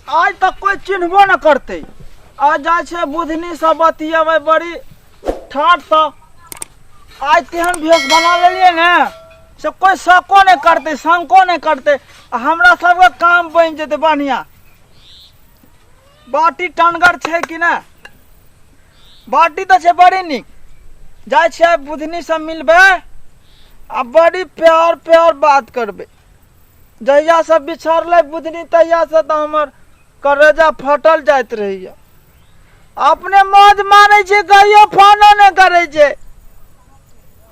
आज तक कोई चिन्हबो न करते आज जा छे बुधनी सब बतियावे बड़ी ठाट सा आज तेहन भेष बना लेलिए ने से कोई शको नहीं करते शंको नहीं करते आ हमरा सबके काम बन जेते बढ़िया बाटी टनगर छै कि ने बाटी तऽ छै बड़ी नीक जाइ छियै बुधनी से मिलबै आ बड़ी प्यार प्यार बात करबै जहिया से बिछड़लै बुधनी तहिया से तऽ हमर करेजा फटल जाइत रहैया अपने मौज मारै छै कहियो फोनो नहि करै छै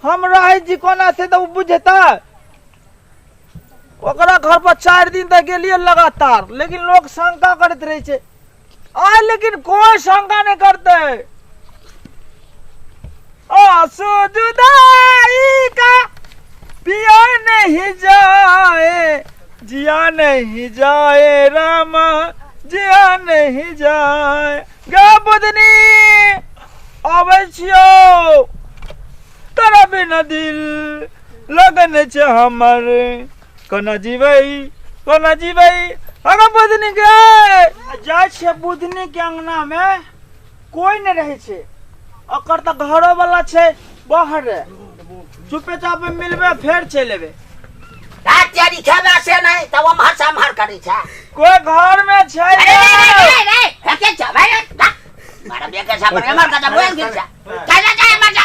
हम रहै छी कोना से तऽ ओ बुझता ओकरा घर पर चारि दिन तक गेलिए लगातार लेकिन लोग शंका करते रहे छे आय लेकिन कोई शंका नहीं करते आंसू जुदाई का पिया नहीं जाए जिया नहीं जाए रामा जिया नहीं जाए गे बुदनी अबै छियो तेरा बिना दिल लगन छै हमर कोना जीबै कोना जीबै अगर बुधनी के जाइ छियै बुधनी के अंगना मे कोई नहि रहै छै ओकर तऽ घरो वाला छै बाहर चुपे चापे मिलबे फेर चलि एबै तेरी खेला से नहीं तब हम हर साम हर करी छा कोई घर में छै अरे नहीं नहीं नहीं नहीं हके जा भाई मारा बेटा साहब मर का जा बोल गिर जा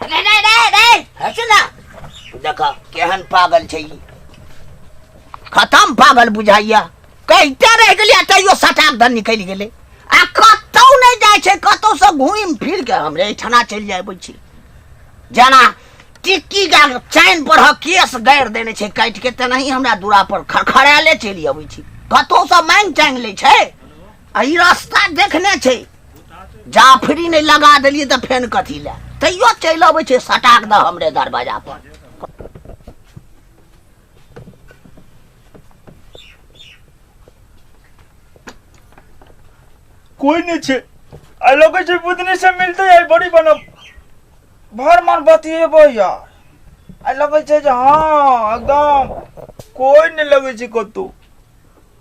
रे रे रे रे हट ना देख केहन पागल छै ई खतम पागल बुझाइया कहिते रह गेलियै तैयो सटाक दन निकलि गेलै आ कतौ नहि जाइ छै कतौ से घुमि फिर के हमरे एहिठाना चलि जाय छी जेना टिक्की का चैन पर ह केस गाड़ि देने छै काटि के तेनाही हमरा दूरा पर खड़खड़ायले चलि अबै छी कतौ से मांगि चांगि लै छै आ ई रास्ता देखने छै जाफरी नहि लगा देलियै तऽ फेन कथी लए तैयो चलि अबै छै सटाक दऽ हमरे दरवाजा पर कोई नहीं छे आ लगे छे बुधनी से मिलते है बड़ी बनब भर मन बतिएबो यार आ लगे छे जे हाँ एकदम कोई नहीं लगे छे कतौ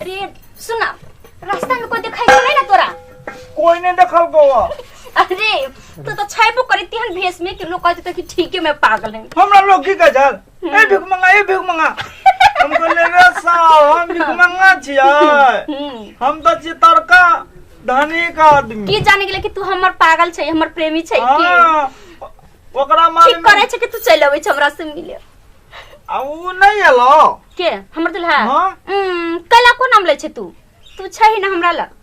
अरे सुना रास्ता में कोई दिखाई नहीं ना तोरा कोई नहीं देखल को अरे तू तो छाइबो करी तिहन भेस में कि लोग कहते थे कि ठीक है मैं पागल है हमरा लोग की कजल ए भिख मंगा ए भिख मंगा हम कहले रे साहब हम भिख मंगा छियै हम्म। हम तो छी तड़का धनी का आदमी की जाने के लिए कि तू हमर पागल छै हमर प्रेमी छै कि हाँ, ओकरा मारे ठीक करे छै कि तू चल अबै छै हमरा से मिले आ ऊ नहीं एलो के हमर दुल्हा हाँ। उम्म, कैला को नाम लै छै तू तू छै ही ना हमरा लग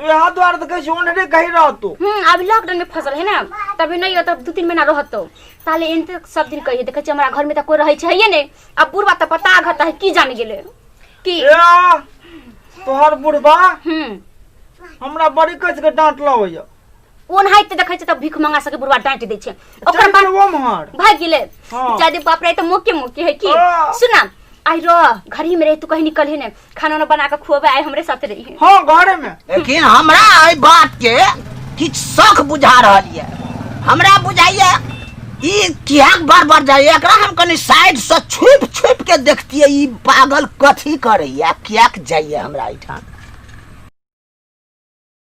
यहाँ द्वार तो कहीं ओनरे कहीं रह तू हम्म अभी लॉकडाउन में फसल है ना तभी नहीं होता दू तीन महीना रहत तो ताले इन तक सब दिन कहिए देखे हमरा घर में तो कोई रहे छै ने अब बुढ़वा तो पता घता है की जान गेले की ए तोहर बुढ़बा हम्म हमरा बड़ी कस के डांट लवैया ओनहाइ ते देखै छै तऽ भीख मंगा सके बुढ़वा डांट दै छै ओकर ओकर बाद वो महर भाग गेले हाँ। जादे बाप रे तो मोके मोके है की हाँ। सुना आई रो घर ही में रहे तू कहीं निकल ही ने खाना वाना बना के खुआबे आई हमरे साथ रही है हाँ घरे में लेकिन हमरा एहि बात के किछु शौक बुझा रहल ये हमरा बुझाइए ई किएक बार बार जाइए एकरा हम कनि साइड से छुप छुप के देखतियै ई पागल कथी करैए किएक जाइए हमरा एहिठाम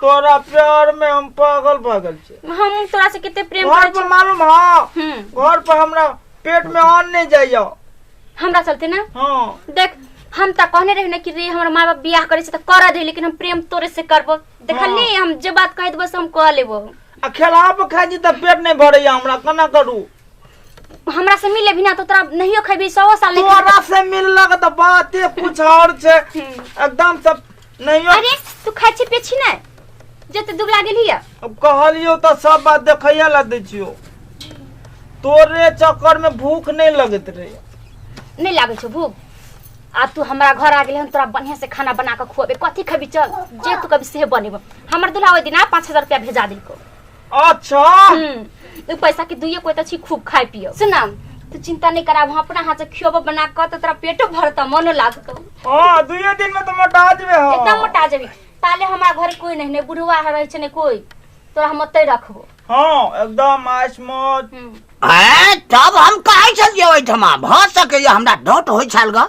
तोरा प्यार में हम पागल भऽ गेल छी हम तोरा से कते प्रेम घर करै पर छी मालूम हँ हम्म, घर पर हमरा पेट में अन्न नहीं जाइया हमरा चलते ना हाँ देख हम तऽ कहने रही ने कि रे हमर माँ बाप बियाह करे छै तऽ करऽ दे लेकिन हम प्रेम तोरे से करबो देखली हम जे बात कह देबो से हम कह लेबो आ खेला पर खाइ छी तऽ पेट नहीं भरैया हमरा केना करू हमरा से मिले बिना तो तोरा नहियो खेबी सौ साल नहीं तोरा से मिललक तऽ बाते कुछ और छै एकदम सब नहीं हो- अरे तू खाइ छी पियै छी ने जते दुबला गेली है अब कहलियो तो सब बात देखैया ला दै छियो तोरे चक्कर में भूख नहीं लगत रहे नहीं लागै छौ भूख आ तू हमरा घर आ गेल हम तोरा बढ़िया से खाना बना के खुएबे कथी खेबी चल जे तू कभी से बनेबो हमर दुल्हा ओहि दिन आ पाँच हजार रुपया भेजा देलको अच्छा हम्म, उ पैसा के दुइये कोई छी खूब खाए पियो सुना तू चिंता नहीं करा हम अपना हाथ से खियोब बना कर तो तेरा पेटो भरता मनो लागतो हाँ दुए दिन में तो मोटा जबे हो एकदम मोटा जेबी ताले हमारा घर कोई नहीं ने बुढ़वा रहे छै ने कोई तोरा हम ओतै रखबो हाँ एकदम आइस मौज हम्म, ए तब हम काहे चल जेबै ठमा भ सकैए हमरा डाउट होइ छल ग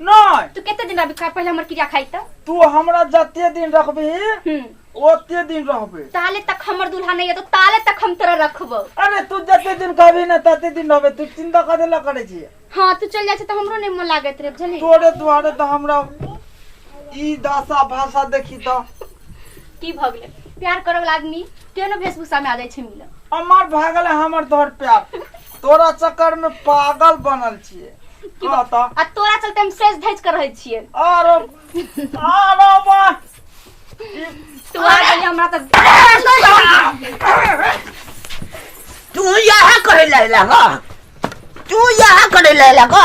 नहीं तू कितने दिन अभी खा पहले हमर क्रिया खाई त तू हमरा जते दिन रखबी हम्म ओते दिन रहबे ताले तक हमर दूल्हा नहीं है तो ताले तक हम तोरा रखबो अरे तू जते दिन कहबी ना तते दिन रहबे तू चिंता करे ला करे छी हाँ तू चल जाए तो हमरो नहीं मन लागत रे बुझली तोरे दुआरे तो हमरा ई दासा भाषा देखी तो की भ गेलै प्यार करऽ वाला आदमी केहनो वेशभूषा में आ जाइ छै मिलऽ अमर भागल है हमर तोहर प्यार तोरा चक्कर में पागल बनल छिए की कह बात? त आ तोरा चलते हम सेज धज कर रहे छिए आरो आरो बा तू आ गई हमरा त तू यहाँ करे लैला का तू यहाँ करे लैला का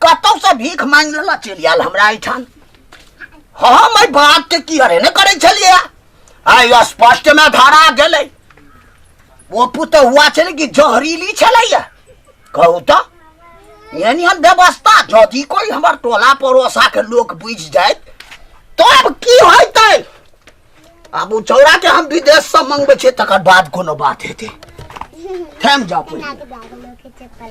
कतौसँ भीख मांगि लेला चलि आयल हमरा एहिठाम हम एहि बातके की अरे ने करै छलियै आइ स्पष्टमे धरा गेलै ओ पुतहुआ छलै कि जहरीली छलैया कहू तऽ यानी हम व्यवस्था यदि कोई हमर टोला पड़ोसा के लोग बुझ जाए तो अब की होते अब ओ चौड़ा के हम विदेश से मंगबे छे तकर बाद कोनो बात हेते थम जाओ